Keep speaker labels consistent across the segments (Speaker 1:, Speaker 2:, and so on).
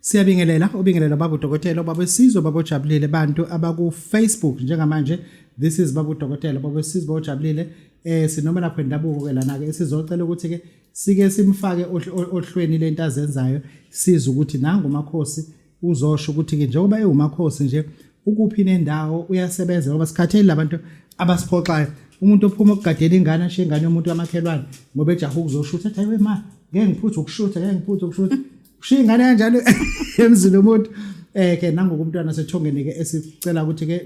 Speaker 1: Siyabingelela ubingelela babu dokotela babu sizwe babu jabulile bantu abaku Facebook njengamanje this is babu dokotela babu sizwe babu jabulile eh sinoma lapho indabuko ke lana ke sizocela ukuthi ke sike simfake ohlweni lento azenzayo siza ukuthi nangu makhosi uzosho ukuthi ke njengoba ewumakhosi nje ukuphi nendawo uyasebenza ngoba sikhathele labantu abasiphoxayo umuntu ophuma okugadela ingane ashiye ingane yomuntu wamakhelwane ngoba ejaha ukuzoshutha athi ayiwe ma ngeke ngiphuthe ukushutha ngeke ngiphuthe ukushutha ushiya ingane kanjalo emzini omuntu eh ke nangoku umntwana sethongeni ke esicela ukuthi ke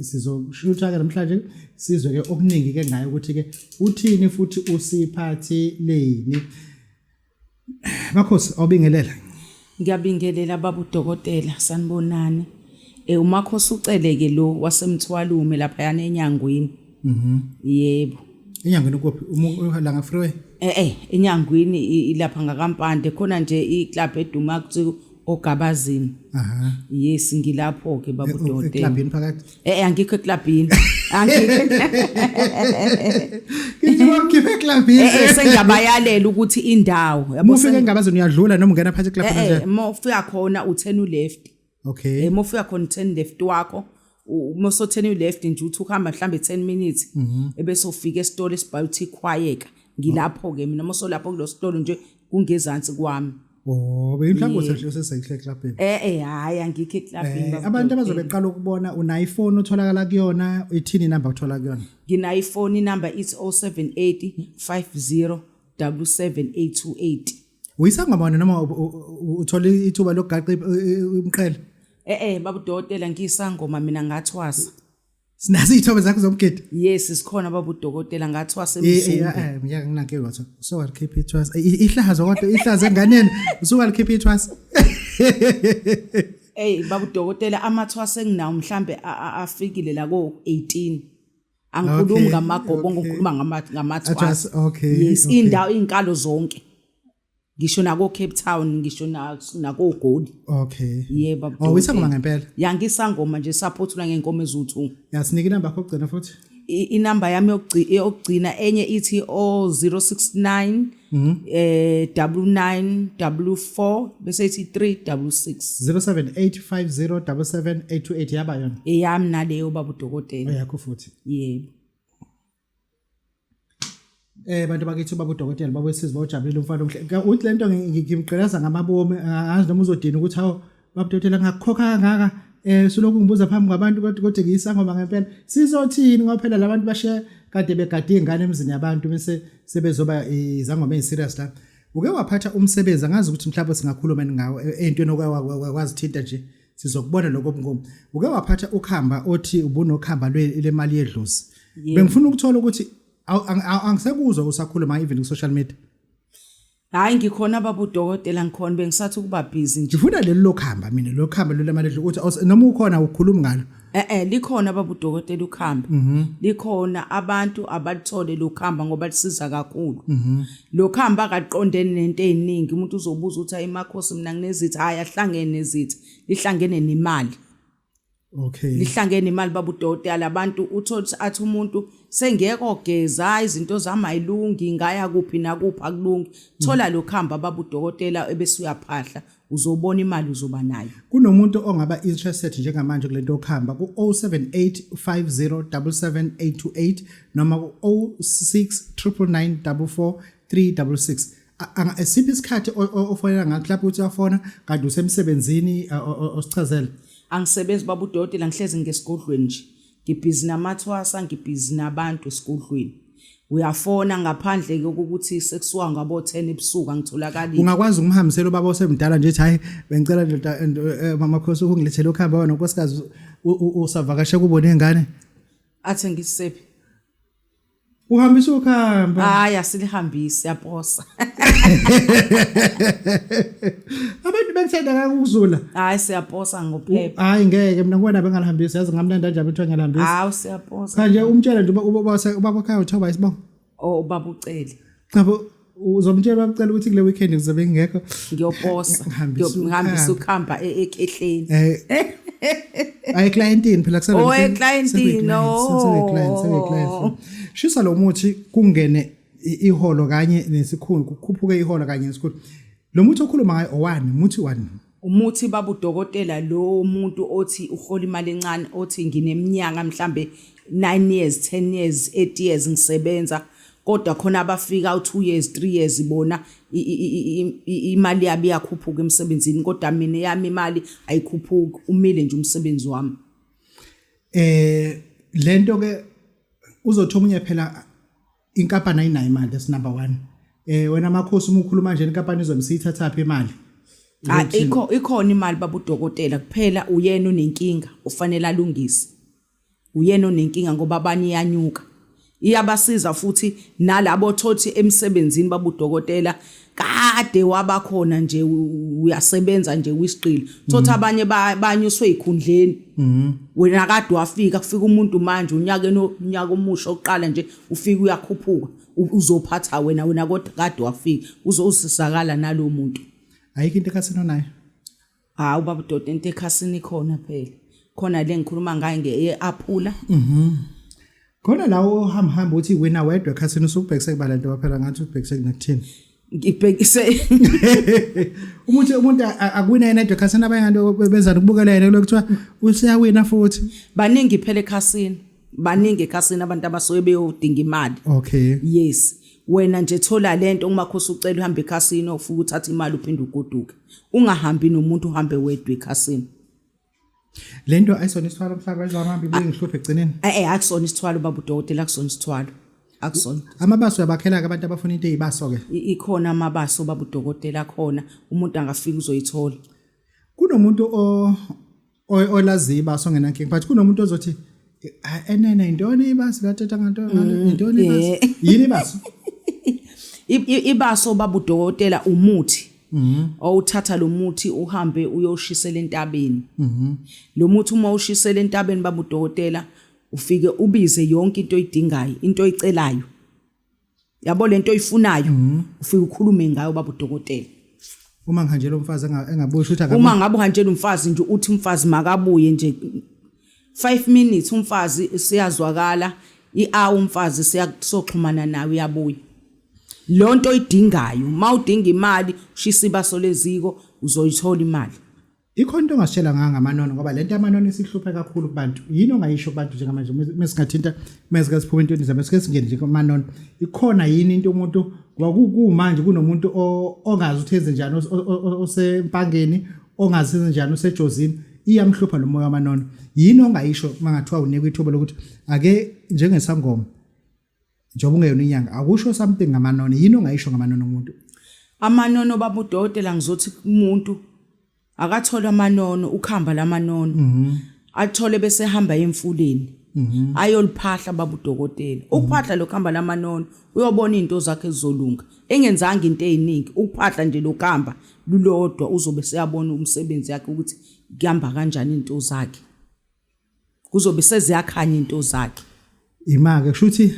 Speaker 1: sizoshutha ke namhlanje sizwe ke okuningi ke ngayo ukuthi ke uthini futhi usiphathi leni Makhosi awubingelela. Ngiyabingelela
Speaker 2: babu dokotela sanibonani. Eh umakhosi uceleke lo wasemthwalume lapha yana enyangweni. Mhm. Yebo. Enyangweni
Speaker 1: kuphi? Umlanga um, freeway. Eh eh enyangweni
Speaker 2: ilapha ngakampande khona nje iclub eduma kuthi ogabazini. Aha. Yes ngilapho ke babu eh, oh, dokotela. Eclubini phakathi. Eh, eh
Speaker 1: angikho eklabhini.
Speaker 2: Angikho.
Speaker 1: Ngithi wakhiphe eklabhini. Eh, eh sengiyabayalela
Speaker 2: ukuthi indawo. Yabo ufike engabazini
Speaker 1: uyadlula noma ungena phakathi eklabhini eh, eh, nje. Eh, uma ufika khona u10
Speaker 2: uleft. Okay. Eh, uma ufika
Speaker 1: khona u10
Speaker 2: left wakho. uma sotheni uleft nje uthi uhamba mhlambe 10 minutes mhm. ebese ufika esitolo esibiotic quiet ngilapho ke mina uma solapho kulositolo nje kungezansi kwami Oh, beyinhlangothi
Speaker 1: enhle osesayikhle clubbing. Eh eh hayi angikho
Speaker 2: eclubbing. Eh, abantu abazobe beqala
Speaker 1: ukubona una iPhone otholakala kuyona, ithini number othola kuyona? Ngina iPhone
Speaker 2: number it's 078 50 77828. Uyisangoma
Speaker 1: wena noma uthola ithuba lokugaqa umqhele? Eh eh
Speaker 2: babudotela ngiyisangoma mina ngathwasa. Sinazi
Speaker 1: izithombe zakho zomgidi. Yes, sikhona baba
Speaker 2: udokotela ngathi wasemzungu. Yeah, yeah, ngiyake nginake lotho.
Speaker 1: So what keep it was. Ihlazo kodwa ihlazo enganeni. So what keep it was. Hey
Speaker 2: baba udokotela amathwase enginawo mhlambe afikile la ko 18. Angikhulumi ngamagobo ngikhuluma ngamathwase. Okay. Yes, indawo izinkalo zonke. ngisho nako Cape Town ngisho nako Goli okay yeah
Speaker 1: baba oh isangoma
Speaker 2: ngempela ya
Speaker 1: ngisangoma nje
Speaker 2: support la ngenkomo ezuthu yasinika inamba yakho ogcina
Speaker 1: futhi inamba yami
Speaker 2: yokugcina enye ithi o 069 mhm. eh 9944 bese ithi 366
Speaker 1: 0785077828 yaba yona eyami naleyo baba
Speaker 2: udokotela oh, yakho futhi
Speaker 1: yebo Eh bantu bakithi baba udokotela baba wesizi bawujabulile umfana omhle. Ka- Uthi lento ngi- ngi- ngimgqilaza ngamabomi angazi noma uzodina ukuthi hawu baba udokotela ngakukhokha kangaka eh sulokhu ngibuza phambi kwabantu kodwa kodwa ngiyisangoma ngempela. Sizothini ngoba phela labantu bashe kade begade ingane emzini yabantu bese sebezoba izangoma eziserious la. Uke waphatha umsebenzi angazi ukuthi mhlawumbe singakhuluma ngawo eh, entweni okwazithinta nje. sizokubona lokho mnkomo uke waphatha ukhamba othi ubunokhamba lemali yedlozi bengifuna ukuthola ukuthi angisekuzwa usakhuluma even ku social media hayi
Speaker 2: ngikhona baba udokotela ngikhona bengisathi ukuba busy nje ngifuna leli lokuhamba
Speaker 1: mina lokuhamba lelo mali ukuthi noma ukhona ukhuluma ngalo eh eh likhona
Speaker 2: babudokotela ukhamba mhm. likhona abantu abalithole lokhamba ngoba lisiza kakhulu mhm. lokhamba akaqondene nento eziningi umuntu uzobuza ukuthi ayimakhosi mina nginezithi hayi ahlangene nezithi lihlangene nemali okay
Speaker 1: lihlangene imali
Speaker 2: babudokotela abantu uthola athi umuntu sengeke ogeza izinto zami ayilungi ngaya kuphi nakuphi akulungi thola lokhamba babudokotela ebese uyaphahla uzobona imali uzoba nayo kunomuntu ongaba
Speaker 1: interested njengamanje kulento yokuhamba ku 0785077828 noma ku 0699944366 esiphi isikhathi ofonela ngakho lapho uthi uyafona kanti usemsebenzini osichazele angisebenzi
Speaker 2: baba udoti la ngihlezi ngesigodlweni nje ngibhizi namathwasa ngibhizi nabantu esigodlweni uyafona ngaphandle kokuthi sekusuka ngabo 10 ebusuku angitholakali ungakwazi ukumhambisela
Speaker 1: ubaba osemdala nje ethi hayi bengicela ndoda eh, mama khosi ukungilethela ukuhamba wena nkosikazi usavakashe kubo nengane athi
Speaker 2: ngisephi
Speaker 1: uhambisa ukuhamba hayi asilihambisi
Speaker 2: yaposa
Speaker 1: abantu bethanda kakuzula hayi siyaposa
Speaker 2: ngophepha hayi ngeke mina ngibona
Speaker 1: bengalihambisi yazi ngamnanda nje abethu angalihambisi hawu siyaposa
Speaker 2: kanje umtshela nje uba
Speaker 1: uba uba ukhaya uthoba isibongo oh ubaba uceli
Speaker 2: chabo
Speaker 1: uzomtshela bakucela ukuthi kule weekend ngizobe ngingekho ngiyoposa
Speaker 2: ngihambisa ukuhamba e-, e-, ekehleni eh.
Speaker 1: ayi clientini phela kusele oh
Speaker 2: clientini no oh. shisa
Speaker 1: lo muthi kungene iholo kanye nesikhulu kukhuphuke iholo kanye nesikhulu lo muthi okhuluma ngayo owani muthi wani Umuthi
Speaker 2: babudokotela lo muntu othi uhola imali encane othi ngineminyaka mhlambe 9 years 10 years 8 years ngisebenza kodwa khona abafika u2 years 3 years bona imali yabo iyakhuphuka emsebenzini kodwa mina yami imali ayikhuphuki umile nje umsebenzi wami eh
Speaker 1: lento ke uzothi omunye phela inkampani ayinayo imali that's number one eh wena makhosi uma ukhuluma nje inkampani izomsiyithathaphi imali Ah ikho
Speaker 2: ikhona imali babudokotela kuphela uyena onenkinga ufanele alungise. Uyena onenkinga ngoba abanye iyanyuka. Iyabasiza futhi nalabo thothi emsebenzini babudokotela kade wabakhona nje uyasebenza nje kwisiqili thothi abanye banyuswe ikhundleni mhm. wena kade wafika kufika umuntu manje unyaka unyaka omusha oqala nje ufika uyakhuphuka uzophatha wena wena kodwa kade wafika uzosisakala nalomuntu ayikho into ekhathina
Speaker 1: nayo hawu baba
Speaker 2: udoda into ekhasini khona phela khona le ngikhuluma ngayo nge-aphula mhm
Speaker 1: khona lawo ohamba hamba uthi wena wedwa ekhasini usubhekise kubala nto baphela ngathi ubhekise kunakuthini ngibhekise umuntu umuntu akwina yena edwa ekhasini abanye nto benzani ukubukela yena kulokuthiwa usiyawina futhi baningi phela
Speaker 2: ekhasini baningi ekhasini abantu abasuke beyodinga imali okay yes wena nje thola lento uma khosi ucela uhambe ekhasini ofuka uthatha imali uphinde ugoduke ungahambi nomuntu uhambe wedwa ekhasini
Speaker 1: lento ayisona isithwalo mhlaba izamambi ibuye ngihluphe egcineni eh eh akusona isithwalo
Speaker 2: baba udokotela akusona isithwalo akusona amabaso uyabakhela-ke
Speaker 1: abantu abafuna into eyibaso-ke ikhona amabaso
Speaker 2: baba udokotela khona umuntu angafika uzoyithola kunomuntu
Speaker 1: olaziyo ibasi ongenankinga but kunomuntu ozothi enene yintoni ibasi lathetha nganto mm, yintoni ibasi yini ibasi ibaso
Speaker 2: babudokotela umuthi mhm. owuthatha lo muthi uhambe uyoshisela entabeni mhm. lo muthi uma ushisela entabeni babudokotela ufike ubize yonke into oyidingayo into oyicelayo yabo lento oyifunayo mhm. ufike ukhulume ngayo baba udokotela uma ngihanjela
Speaker 1: umfazi engabuyi ukuthi akabuyi uma ngabe uhanjela umfazi
Speaker 2: nje uthi umfazi makabuye nje 5 minutes umfazi siyazwakala i-hour umfazi siyakusoxhumana nawe uyabuya lonto oyidingayo mawudinga imali ushisa ibaso leziko uzoyithola imali Ikhona into ongasitshela
Speaker 1: ngayo ngamanono ngoba lento yamanono isihluphe kakhulu kubantu. Yini ongayisho kubantu njengamanje mesingathinta mesike siphuma entweni zabo sike singene nje kumanono. Ikhona yini into umuntu kwakukumanje kunomuntu ongazi ukuthi enze njani osempangeni ongazi enze njani usejozini iyamhlupha lo moya wamanono. Yini ongayisho mangathiwa unikwa ithuba lokuthi ake njengesangoma njengoba ungeyona inyanga akusho something ngamanono yini ongayisho ngamanono umuntu amanono
Speaker 2: babudokotela ngizothi kumuntu akathola amanono ukhamba lamanono mhm. athole bese hamba emfuleni mhm. ayoliphahla babudokotela mhm. ukuphahla lokhamba lamanono uyobona izinto zakhe ezolunga engenzanga into eziningi ukuphahla nje lokhamba lulodwa uzobe seyabona umsebenzi yakhe ukuthi kuhamba kanjani izinto zakhe kuzobe seziyakhanya into zakhe imake
Speaker 1: kushuthi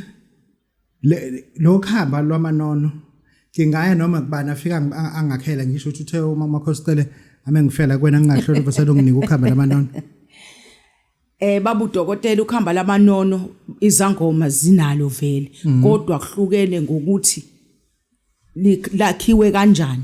Speaker 1: lo khamba lwamanono ngingaya noma kubani afika angakhela ngisho ukuthi uthe umama khosicele ame ngifela kwena ngingahloli boselo nginika ukhamba lamanono
Speaker 2: eh babu dokotela ukhamba lamanono izangoma zinalo vele mm. kodwa kuhlukene ngokuthi lakhiwe kanjani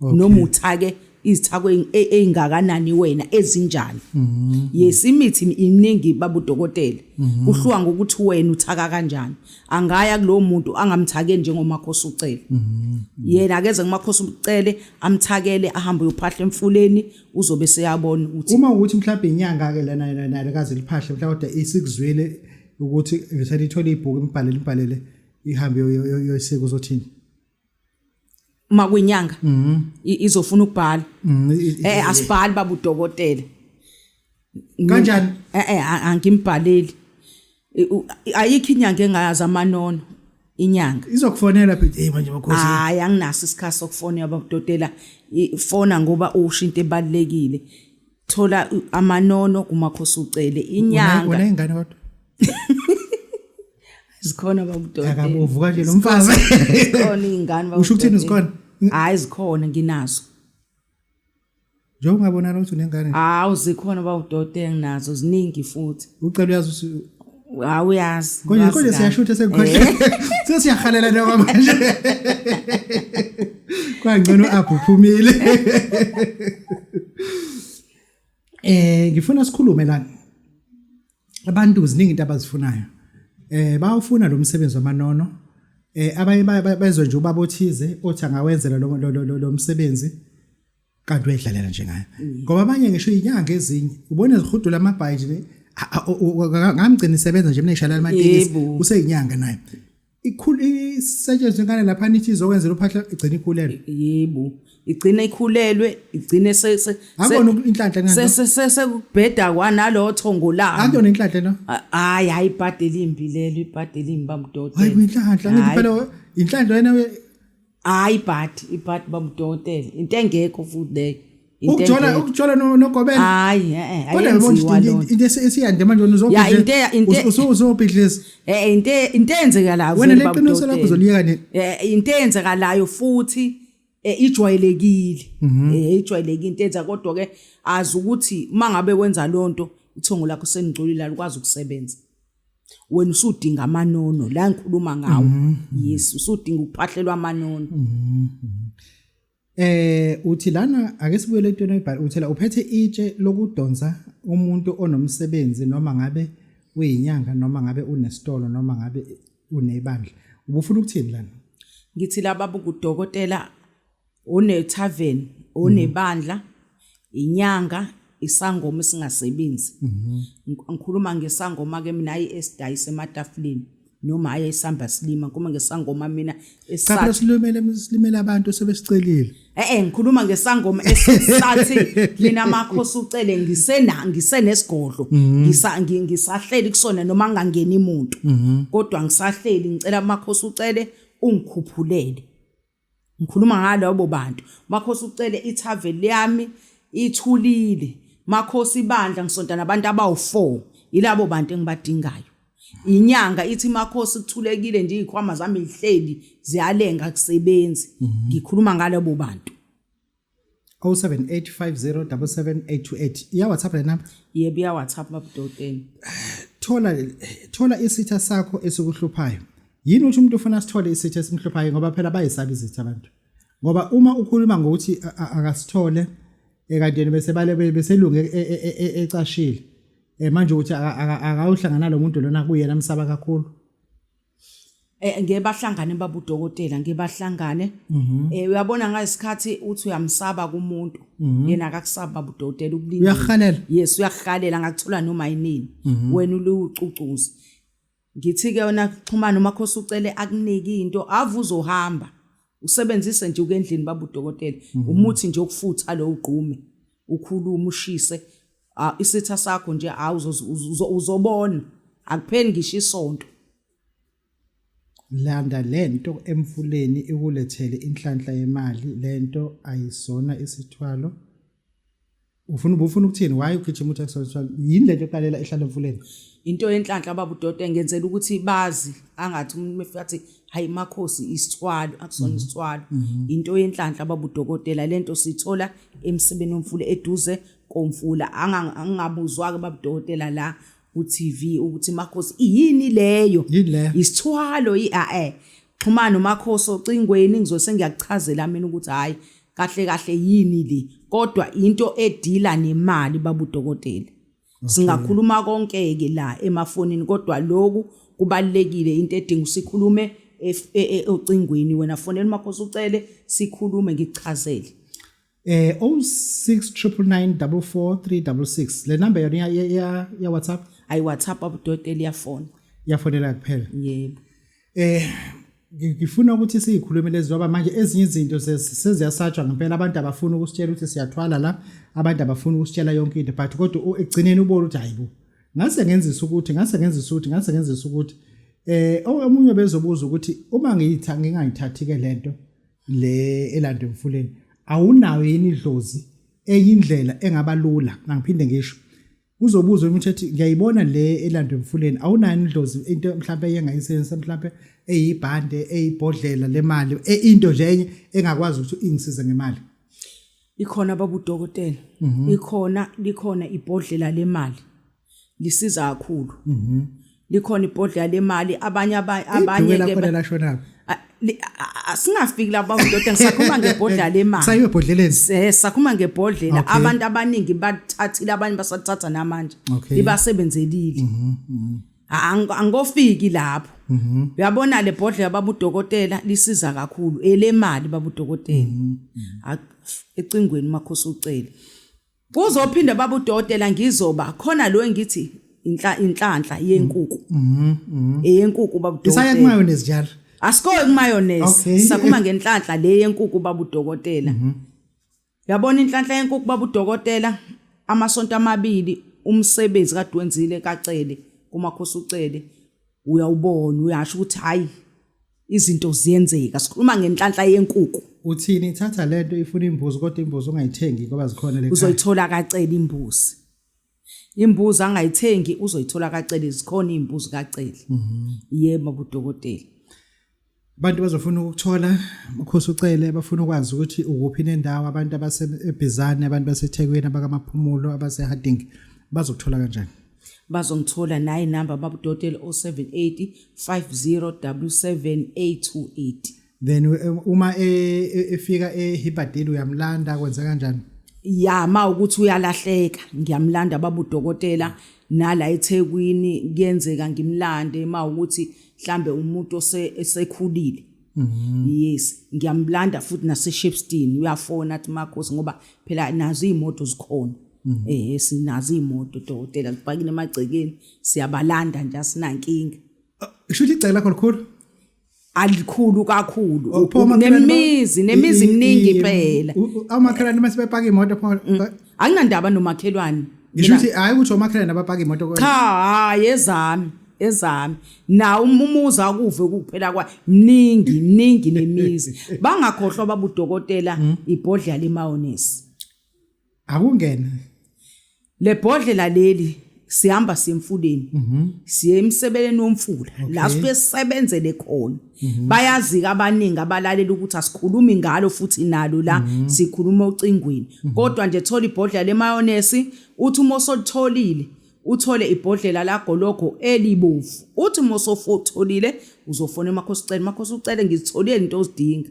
Speaker 2: noma uthake izithako ezingakanani wena ezinjani mm-hmm. yes imithi iningi babudokotela mm-hmm. kuhluwa ngokuthi wena uthaka kanjani angaya kulowo muntu angamthake njengomakhosi ucele mm-hmm. yena akeze kumakhosi ucele amthakele ahambe uyophahla emfuleni uzobe seyabona ukuthi uma ukuthi mhlawumbe inyanga
Speaker 1: ke lana lana kaze liphahle mhlawumbe kodwa isikuzwile ukuthi ngisalithola ibhuku imbhalele imbhalele ihambe yoyiseka uzothini makwinyanga
Speaker 2: mhm. izofuna ukubhala mhm, eh asibhali baba udokotela
Speaker 1: kanjani eh, eh
Speaker 2: angimbhaleli ayikho inyanga engayazi amanono inyanga izokufonela phi hey
Speaker 1: manje makhosi hayi anginaso isikhathi
Speaker 2: sokufonela baba udokotela ifona ngoba usho into ebalekile thola amanono kumakhosi ucele inyanga unengane kodwa zikhona babudodeni akabovu kanje lo mfazi
Speaker 1: zikhona iy'ngane
Speaker 2: babudodeni. usho ukuthini zikhona
Speaker 1: hhayi zikhona
Speaker 2: nginazo njengoba
Speaker 1: ungabonala ukuthi unengane hawu zikhona
Speaker 2: babudodeni nginazo ziningi futhi ucela uyazi ukuthi
Speaker 1: hawu uyazi
Speaker 2: konje uyazi konje kahle. siyashutha
Speaker 1: sekukhohle sesiyahalela noma manje kwangcono apho uphumile eh ngifuna sikhulume lana abantu ziningi into abazifunayo eh bawufuna lo msebenzi wamanono eh abanye bezwe nje ubaba othize othi angawenzela lo lo msebenzi kanti uyedlalela nje ngayo mm. ngoba abanye ngisho inyanga ezinye ubona zihudula amabhayi nje ngamgcina isebenza nje mina ishalala amatiki useyinyanga naye ikhulu isetshenzwe ngane lapha nithi izokwenzela uphahla igcina ikhulelwe yebo
Speaker 2: igcina ikhulelwe igcine sese akona
Speaker 1: inhlanhla ngani sese sese kubheda
Speaker 2: kwanalo thongo la akona inhlanhla no
Speaker 1: hayi hayi ibhade
Speaker 2: limbi lelo ibhade limbi bamdodo hayi inhlanhla ngiphela
Speaker 1: inhlanhla yena hayi ibhadi
Speaker 2: ibhadi bamdokotela into engekho futhi leyo ukuthola
Speaker 1: ukuthola nogobela hayi eh
Speaker 2: kodwa yabona
Speaker 1: into esiyande manje uzobhidla ya inte inte usuzobhidlisa eh inte into
Speaker 2: enzekalayo wena le qiniso lakho
Speaker 1: uzoliyeka ne eh into enzekalayo
Speaker 2: futhi eh, ijwayelekile mhm. eh ijwayelekile into enza kodwa ke azi ukuthi mangabe wenza lonto ithongo lakho senigcolile alikwazi ukusebenza wena usudinga amanono la ngikhuluma ngawo mhm. yes usudinga ukuphahlelwa amanono mhm. eh
Speaker 1: uthi lana ake sibuyele entweni oyibhala uthela uphethe itshe lokudonsa umuntu onomsebenzi noma ngabe uyinyanga noma ngabe unesitolo noma ngabe unebandla ubufuna ukuthini lana ngithi laba
Speaker 2: bukudokotela Unethaveni, unebandla, inyanga, isangoma esingasebenzi. Ngik- Ngikhuluma ngesangoma ke mina hayi esidayisa ematafuleni noma hayi esihamba silima ngikhuluma ngesangoma mina Cha phela esisathi silimele
Speaker 1: silimele abantu sebesicelile. Eh eh ngikhuluma
Speaker 2: ngesangoma esisathi mina makhosi ucele ngisena ngisenesigodlo ngisa ngi- ngisahleli kusona noma ngangeni umuntu kodwa ngisahleli ngicela makhosi ucele ungikhuphulele Ngikhuluma ngalabo bantu. Makhosi ucele ithaven lami ithulile. Makhosi ibandla ngisonta nabantu abawu-four. Yilabo bantu engibadingayo. Inyanga ithi makhosi kuthulekile nje iy'khwama zami y'hleli ziyalenga akusebenzi. Mhm. Ngikhuluma ngalabo bantu. 0785077828
Speaker 1: iya WhatsApp lena yebo iya WhatsApp
Speaker 2: babudoteni thola
Speaker 1: thola isitha sakho esikuhluphayo yini uthi umuntu ufuna sithole isitha esimhluphayo ngoba phela bayisaba izitha abantu ngoba uma ukhuluma ngokuthi akasithole ekanteni bese bale beselunge e, e, e, ecashile eh, manje ukuthi akawuhlangana lo muntu lona kuyena msaba kakhulu
Speaker 2: eh ngeke bahlangane babudokotela ngeke bahlangane mhm. eh uyabona ngesikhathi uthi uyamsaba kumuntu mhm. yena akakusaba babudokotela ukulinda uyahalela yes
Speaker 1: uyahalela
Speaker 2: ngakuthola noma yinini mhm. wena ulucucuza ngithi ke wena xhumana uma khosi ucele akunike into avuza uhamba usebenzise nje ukendlini baba udokotela mhm. umuthi nje okufutha lo ugqume ukhuluma ushise isitha sakho nje hawu uzobona akupheli ngisho isonto
Speaker 1: landa lento emfuleni ikulethele inhlanhla yemali lento ayisona isithwalo ufuna ubufuna ukuthini why ugijima uthi extra yini lento eqalela ehlala emfuleni into yenhlanhla
Speaker 2: baba udoda engenzela ukuthi bazi angathi umuntu mefika athi hayi makhosi isithwalo akusona mhm. isithwalo mhm. into yenhlanhla baba udokotela lento sithola emsebeni womfula eduze komfula angabuzwa ke baba udokotela la uTV ukuthi makhosi yini leyo yini leyo isithwalo iae eh. xhumana nomakhosi ocingweni ngizose ngiyakuchazela mina ukuthi hayi kahle kahle yini le kodwa into edila nemali babudokotela singakhuluma konke ke la emafonini kodwa lokhu kubalekile into edinga usikhulume e, e, ocingweni wena fonela umakhosi ucele sikhulume ngichazele eh 0699944366 le number yona ya ya, ya WhatsApp ayi WhatsApp abudokotela iyafona yafonela kuphela
Speaker 1: yebo
Speaker 2: eh ngifuna
Speaker 1: ukuthi siyikhulume lezi ngoba manje ezinye izinto seziyasatshwa ngempela abantu abafuna ukusitshela ukuthi siyathwala la abantu abafuna ukusitshela yonke into but kodwa ekugcineni ubona ukuthi hayibo ngase ngenzisa ukuthi ngase ngenzisa ukuthi ngase ngenzisa ukuthi eh omunye bezobuza ukuthi uma ngiyitha ngingayithathi ke lento le elanda emfuleni awunayo yini idlozi eyindlela engaba lula nangiphinde ngisho uzobuza ukuthi ethi ngiyayibona le elandwe emfuleni awunayo indlozi into mhlawumbe eyengayisebenzisa mhlawumbe eyibhande eyibhodlela lemali e, into nje enye engakwazi ukuthi ingisize ngemali ikhona
Speaker 2: babudokotela mhm. ikhona likhona ibhodlela lemali lisiza kakhulu mhm likhona ibhodlela lemali abanye abanye ke khona lashonaphi asingafiki lapha ndoda ngisakhuluma ngebhodlela lemali sayiwe ebhodleleni eh
Speaker 1: sakhuluma
Speaker 2: ngebhodlela abantu abaningi bathathile abanye basathatha namanje ibasebenzelile mhm, mhm. angikofiki lapho mhm. uyabona le bhodlela babudokotela lisiza kakhulu elemali babudokotela ecingweni makhosi ucele Kuzophinda baba udokotela ngizoba khona lo engithi inhla inhlanhla yenkuku. Mhm. mhm. Eyenkuku baba udokotela. Isaye kumayo nezijalo.
Speaker 1: Asikoye kumayonnaise.
Speaker 2: Okay. Sakhuma ngenhlanhla le yenkuku baba udokotela. Mhm. Yabona inhlanhla yenkuku baba udokotela amasonto amabili umsebenzi kade wenzile kacele kumakhosi ucele uyawubona uyasho ukuthi hayi izinto ziyenzeka sikhuluma ngenhlanhla yenkuku uthini thatha
Speaker 1: lento ifuna imbuzi kodwa imbuzi ungayithengi ngoba zikhona le uzoyithola kacela
Speaker 2: imbuzi imbuzi angayithengi uzoyithola kacela zikhona imbuzi kacela mhm. yebo budokotela
Speaker 1: abantu bazofuna ukuthola ukhosi ucele bafuna ukwazi ukuthi ukuphi nendawo abantu abasebhizane abantu basethekwini abakamaphumulo abaseharding bazokuthola kanjani bazongithola
Speaker 2: nayi number babudotele 078 50778 then eh,
Speaker 1: uma eh, eh, efika ehibadile uyamlanda kwenza kanjani ya ma
Speaker 2: ukuthi uyalahleka ngiyamlanda babudokotela nala eThekwini kuyenzeka ngimlande ma ukuthi mhlambe umuntu osekhulile Mm-hmm. yes ngiyamlanda futhi naseshepstein uyafona athi makhosi ngoba phela nazo iy'moto zikhona mm-hmm. eh sinazo iy'moto dokotela zipakile emagcekeni siyabalanda nje asinankinga ah, kusho ukuthi igceke
Speaker 1: lakho likhulu alikhulu
Speaker 2: kakhulu oh, nemizi nemizi eminingi phela amakhalani uma
Speaker 1: sebepaka imoto pho anginandaba
Speaker 2: nomakhelwane ngisho ukuthi hayi ukuthi
Speaker 1: omakhelwane abapaka imoto kodwa cha hayi
Speaker 2: ezami ezami nawo umuzi akuve ukuphela kwa mningi mningi nemizi bangakhohlwa babudokotela hmm? ibhodlela lemawonisi
Speaker 1: akungena
Speaker 2: lebhodlela leli sihamba siye emfuleni mhm. siye emsebeleni womfula la sifike sisebenzele khona mhm. bayazika abaningi abalalela ukuthi asikhulumi ngalo futhi nalo la mhm. sikhuluma ocingweni kodwa nje thola ibhodlela lemayonesi uthi uma usolitholile uthole ibhodlela lagologo elibovu uthi uma usofotholile uzofona emakhosi ucele makhosi ucele ngizitholile into ozidinga